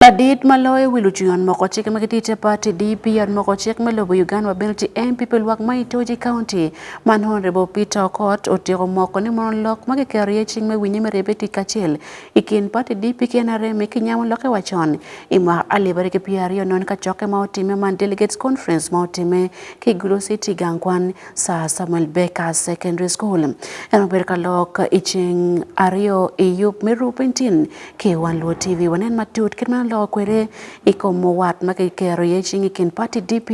Ladit ma loyo wi lucung yot moko cik ma gitye i Chapati, DP, yot moko cik me lobo Uganda wa bene tye MP pi lwak ma Itoji County, man Hon Rebo Peter Okot, otyeko moko ni mono lok ma kiketo iye cing me winye me ribbe tic kacel i kin pati DP ki nrm ki nyamo lokke wa con i mwaka alip ariyo ki pyera aryo nongo ka cokke ma otimme man Delegates Conference ma otimme ki Gulu City gang kwan Sir Samuel Baker Secondary School. En obedo ka lok i ceng aryo i yub me Rupin Tin Ki wan luo TV wanen matut kit ma loko kwede I kom muwat ma ki kero iye cing I kin party DP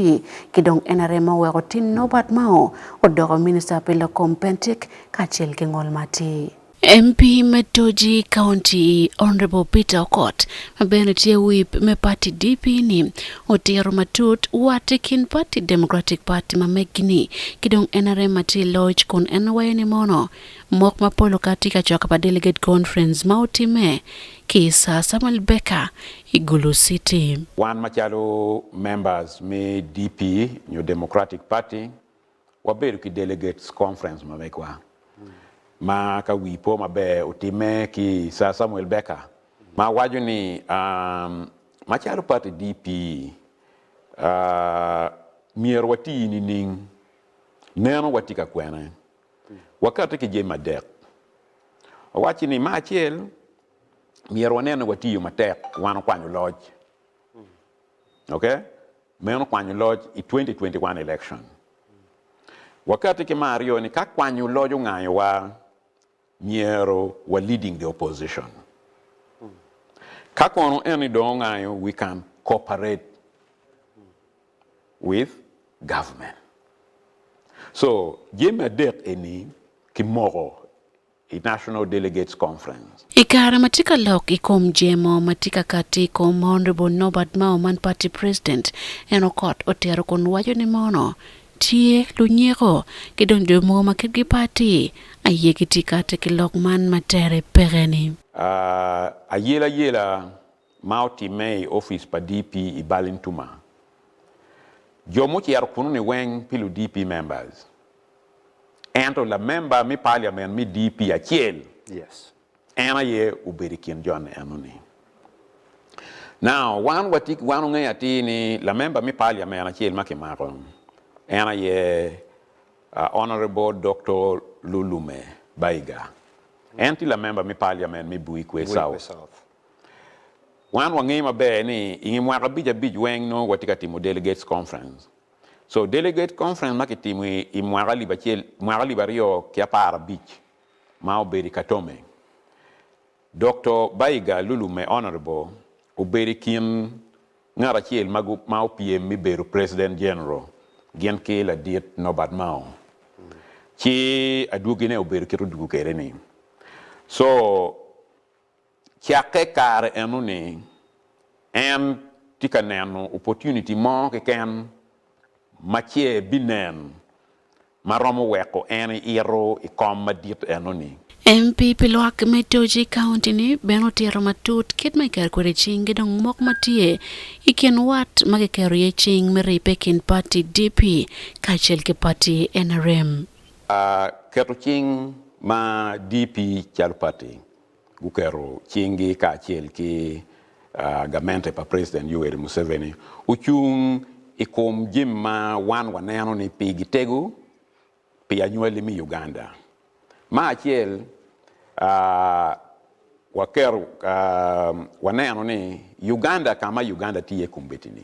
ki dong nrm ma oweko Tin Norbert Mao odoko minister pi lok kom pentik kacel ki ngol matir. MP me Toji county Honourable Peter Okot ma bene tye whip me party DP ni otiro matut wat I kin party Democratic party ma megi ni ki dong nrm ma tye iloc kun en wayo ni mono Mwok mapol okati ka coka pa Delegate Conference ma otimme ki i Sir Samuel Baker i Gulu City. Wan macalo members me DP nyo Democratic Party wabedo ki Delegates Conference ma megwa ma ka wii po maber otimme ki i Sir Samuel Baker ma awaco ni macalo party DP myero wati nining? Meno watye ka kwene. Wakatte ki jami adek. Owacci ni, me acel, myero wanen ni watiyo matek wan okwanyo loc. Ok? Meno kwanyo loc i 2021 election. Wakatte ki me aryo ni ka kwanyo loc ongayowa, myero wa leading the opposition. Ka kono en ni dong ongayo, we can cooperate. with government so jami adek eni kimoko i national delegates conference. I kare ma tye ka lok i kom jemo ma tye ka kati i kom Honourable Norbert Mao man party president en okot otito kun waco ni mono tye lunyeko ki dong jo mogo ma kitgi pe ati aye gitye kati ki lok man ma tere peke ni. Ayelayela ma otimme i opic pa DP i Ballintuma. Jo mucito kunoni weng pi lu DP members, ento lamemba me Parliament me DP acel en aye obedo i kin jo enoni. Now wan watye wan ongeyo atir ni lamemba me Parliament acel ma kimako en aye Honourable Doctor Lulume Baiga, en tye lamemba me Parliament me Buikwe South. Wan wangeyo maber ni i nge mwaka abic abic weng nongo watye ka timo Delegates Conference. So Delegates Conference ma kitimo i mwaka alip acel, mwaka alip aryo ki apar abic ma obedo i Katome, Dokto Baiga Lulu me Honourable obedo i kin ngat acel ma opyem me bedo President General gin ki Ladit Norbert Mao ci adwogine obedo kit odwogo kwede ni. So. Cakke kare enoni, en tye ka neno opportunity mo keken ma ce binen ma romo weko en ito i kom madit enoni. MP pi lwak me Toji i kaunti ni bene otito matut kit ma kiketo kwede cing ki dong mok ma tye i kin wat ma kiketo iye cing me ribbe i kin pati DP kacel ki pati nrm. Keto cing ma DP calo pati guketo cinggi kacel ki gamente pa President Yoweri Museveni ocung i kom jami ma wan waneno ni pigi tego pi anywali me Uganda. Me acel, waketo, waneno ni Uganda ka ma Uganda tye iye kombeddi-ni,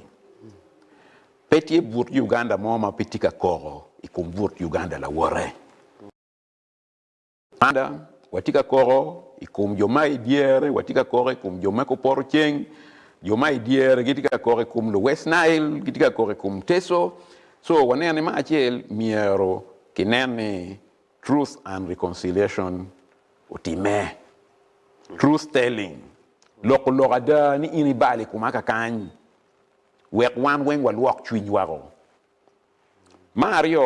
pe tye but Uganda mo ma pe tye ka koko i kom but Uganda lawote. Ada, watye ka koko i kom jo ma i dyere, watye ka koko i kom jo me kor poto ceng, jo ma i dyere gitye ka koko i kom luwest Nail, gitye ka koko i kom Teso. So, waneno ni ma acel myero kinen ni Truth and Reconciliation otimme. Truth Telling, loko lok ada ni in ibalo i koma kakany, wek wan weng walwok cwiny wako. Ma aryo,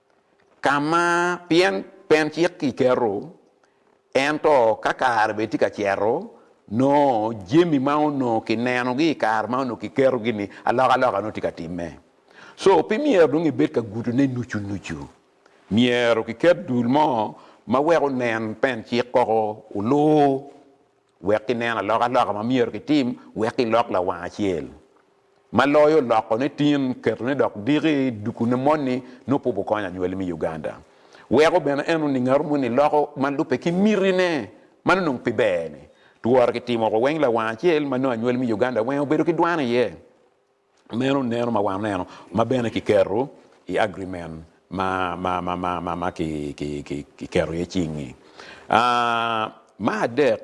Ka ma pien pen cik kiketo, ento ka kare bene tye ka cito, nongo jami ma onongo kinenogi i kare ma onongo kiketogi-ni, alokaloka nongo tye ka timme. So, pe myero dong ibed ka gutone nucu nucu. Myero kiket dul mo ma weko onen pen cik koko, olu. Wek ginen alokaloka ma myero gitim wek gilok lawang acel, ma loyo lokone tin, ketone dok diki, duku ne moni nongo pud wukonyo anywali me Uganda. Weko bene en oning aru moni loko ma lube ki miti ne, mano nongo pi ber ne. Tworo ki timo woko weng lawang acel ma nongo anywali me Uganda weng obedo ki dwan iye. Meno neno ma waneno ma bene kiketo i agreement ma kiketo iye cing-ngi. Me adek,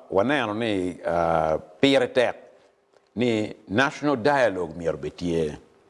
waneno ni pire tek ni national dialogue myero bene tye.